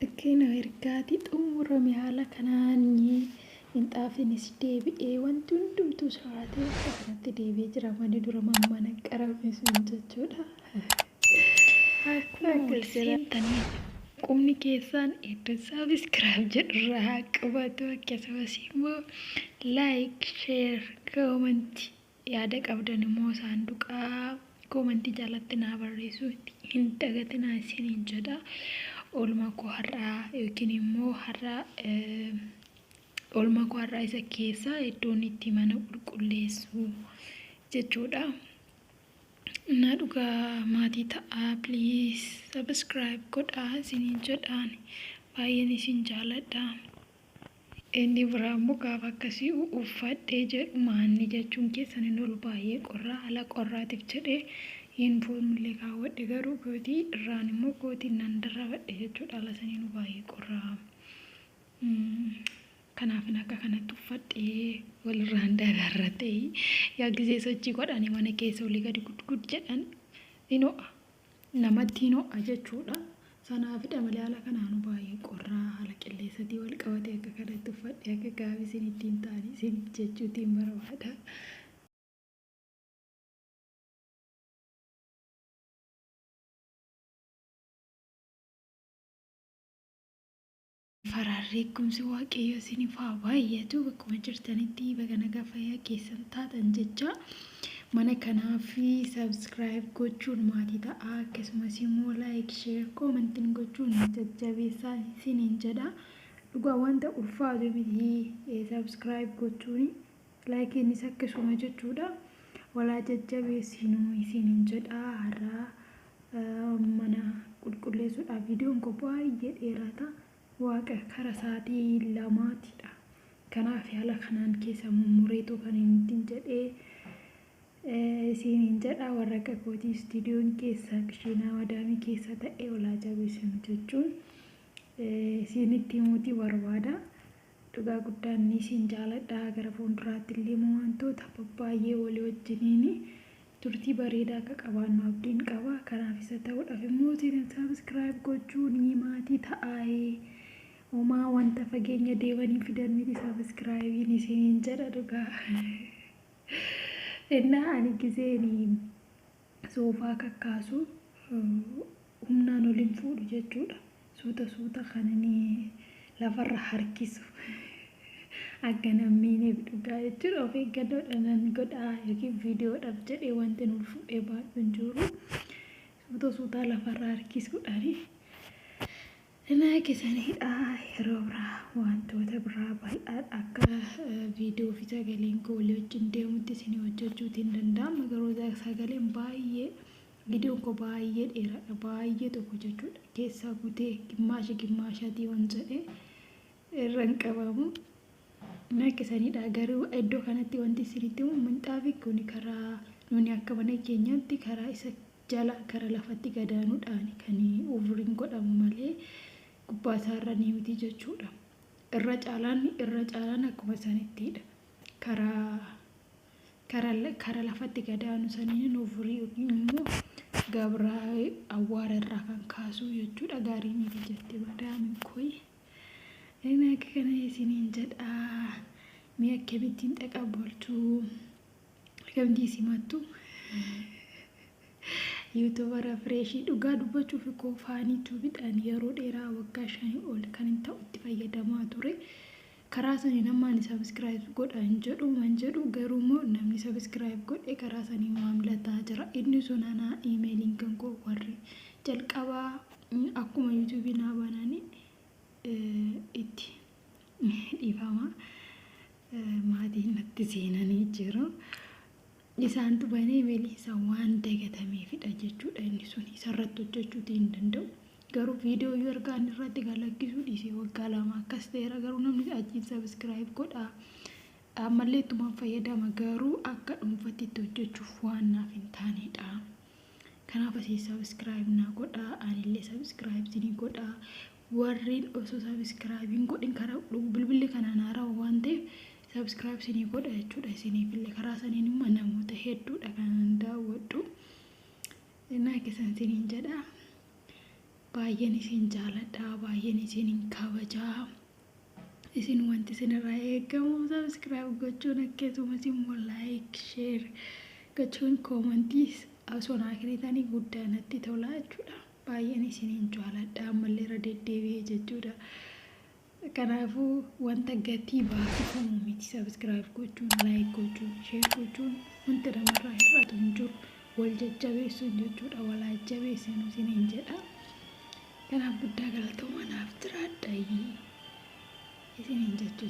Akkina ergaati xumurame haala kanaan minxaafiinis deebi'ee wanti hundumtuus raatee akka kanatti deebi'ee jira manni dura mammanaqarame sun jechuudha. Akkuma wal seentanii qubni keessaan iddoo sabiskiraayib jedhurraa haa qabatu akkasumas immoo laayik, sheer, koomanti yaada qabdan immoo saanduqa koomantii jalatti naa barreessuu hin dagatinaa isiniin jedha. Oolmaa koo har'aa yookiin immoo har'a oolmaa koo har'aa isa keessaa iddoon itti mana qulqulleessu jechuudha. Naa dhugaa maatii ta'aa please subscribe godhaa isiniin jedhaan baay'een isin jaaladha. Inni biraa immoo gaafa akkasii uffadhee jedhu maanni jechuun keessan hin oolu baay'ee qorraa ala qorraatiif jedhee yuunifoormii illee kaawwadhe garuu kootii irraan immoo kootii nan darrabadhe jechuudha ala saniinuu baay'ee qorraa Kanaafin akka kanatti uffadhe walirraan daraarra ta'ii yaa gizee sochii godhani mana keessa olii gadi gud gud jedhan hin ho'a. Namatti hin ho'a jechuudha. Sanaafidha malee haala kanaanu baay'ee qorraa haala qilleessatii wal qabatee akka kanatti uffadhe akka gaabii isinitti hin taane isiniif jechuutiin barbaada. Farhaan reekkumsi waaqayyoo isinif haa baay'atu bakkuma jirtanitti baga nagaa fayyaa keessan taatan jechaa mana kanaaf subscribe gochuun maatii ta'aa akkasumas immoo like share commentin gochuun jajjabeessaa isiniin jedha dhugaa wanta ulfaatu miti subscribe gochuun Like innis akkasuma jechuudha. Wal haa jajjabeessinu isiinin jedha. Har'aa mana qulqulleessuudhaaf viidiyoon koo baay'ee dheeraata. Waaqa kara sa'aatii lamaatidha. Kanaaf haala kanaan keessa mummureetu kan inni ittiin jedhee isiinin jedha. Warra akka kootii istiidiyoon keessa kishiinaa madaamii keessa ta'e wal haa jabeessinu jechuun isiinitti himuutii barbaada. Dhugaa guddaan ni siin jaaladha gara fuunduraatti illee immoo waantoota babbaayyee walii wajjiniin turtii bareedaa akka qabaannu abdiin qaba kanaaf isa ta'uudhaf immoo channel subscribe gochuun maatii ta'aayi homaa wanta fageenya deemanii fidan miti subscribein isiniin jedha dhugaa innaa ani gizeen Soofaa kakkaasu humnaan ol hin fuudhu jechuudha. Suuta suuta kanani lafarra harkisu akkan hin miineef dhugaa jechuudha. Of eeggannoodhaanan godha yookiin viidiyoodhaaf jedhee wantin ol fuudhee baadhu hin jiru. Suuta suutaa lafarra harkisuudhaani. Nanaa kesani hidhaa yeroo biraa waantoota biraa bal'aadha akka video fi sagaleen koo walii wajjin deemutti isinii hojjachuuti hin danda'ama garuu sagaleen baay'ee videon koo baay'ee dheeraadha baay'ee tokko jechuudha keessaa kutee gimmaasha gimmaashaatii wan jedhee irra hin qabamu. Mirga sanidha. Garuu iddoo kanatti wanti isinitti himu minxaafi kuni karaa nuni akka mana keenyaatti karaa isa jala gara lafatti gadaanudhaani kan uuvriin godhamu malee gubbaa isaarra ni miti jechuudha. Irra caalaan irra caalaan akkuma sanittidha. Karaa kara kara lafatti gadaanu saniin uuvrii yookiin immoo gabraa awwaara irraa kan kaasuu jechuudha. Gaarii miti jette madaamin koi. Ani akka kana isiniin jedha, mee akkamittiin dhaqa bulchu? Akkamittiin isin himattu? Yuutuubara Fireeshii dhugaa dubbachuuf koo faanii tuubidhaan yeroo dheeraa waggaa shanii ol kan hin ta'u itti fayyadamaa ture. Karaa saniin amma ani sabiskiraayib godha hin jedhu man jedhu garuu immoo namni sabiskiraayib godhe karaa saniin maamila ta'a jira. Inni sun anaa iimeeliin kan koo warri jalqabaa Akkuma YouTube naa baanaani itti dhiifama maatiin natti seenanii jiru. Isaantu banee meli isa waan dagatameefidha jechuudha inni sun isarratti hojjechuuti hin danda'u. Garuu viidiyoo yoo erga ani irratti galakkisuu dhiisee waggaa lama akkas ta'eera garuu namni achiin sabiskiraayib godha. Ammallee ittumaan fayyadama garuu akka dhuunfatti itti hojjechuuf waan naaf hin taanedha. Kanaaf asii subscribe naa godhaa anillee subscribe isinii godhaa warreen osoo subscribe hin godhin karaa dhugu bilbilli kanaan haarawa waan ta'eef subscribe isinii godha jechuudha isiniifillee karaa saniin immoo namoota hedduudha kanan daawwadhu naa keessan isiniin jedha baay'een isin jaaladha baay'een isiniin kabajaa Isin wanti isinirraa eegamu subscribe gochuun akkasumas immoo like share gochuun koomantiis osoo naa kennitanii guddaa natti tola jechuudha. Baay'een isiniin jaaladha ammallee irra deddeebi'ee jechuudha. Kanaafuu wanta gatii baasifamu miti subscribe gochuun like gochuun share gochuun wanti namarraa hir'atu hin jiru. Wal jajjabeessuun jechuudha wal jajjabeessinu isiniin jedha. Kanaaf guddaa galatooma naaf jiraadha isiniin jechuu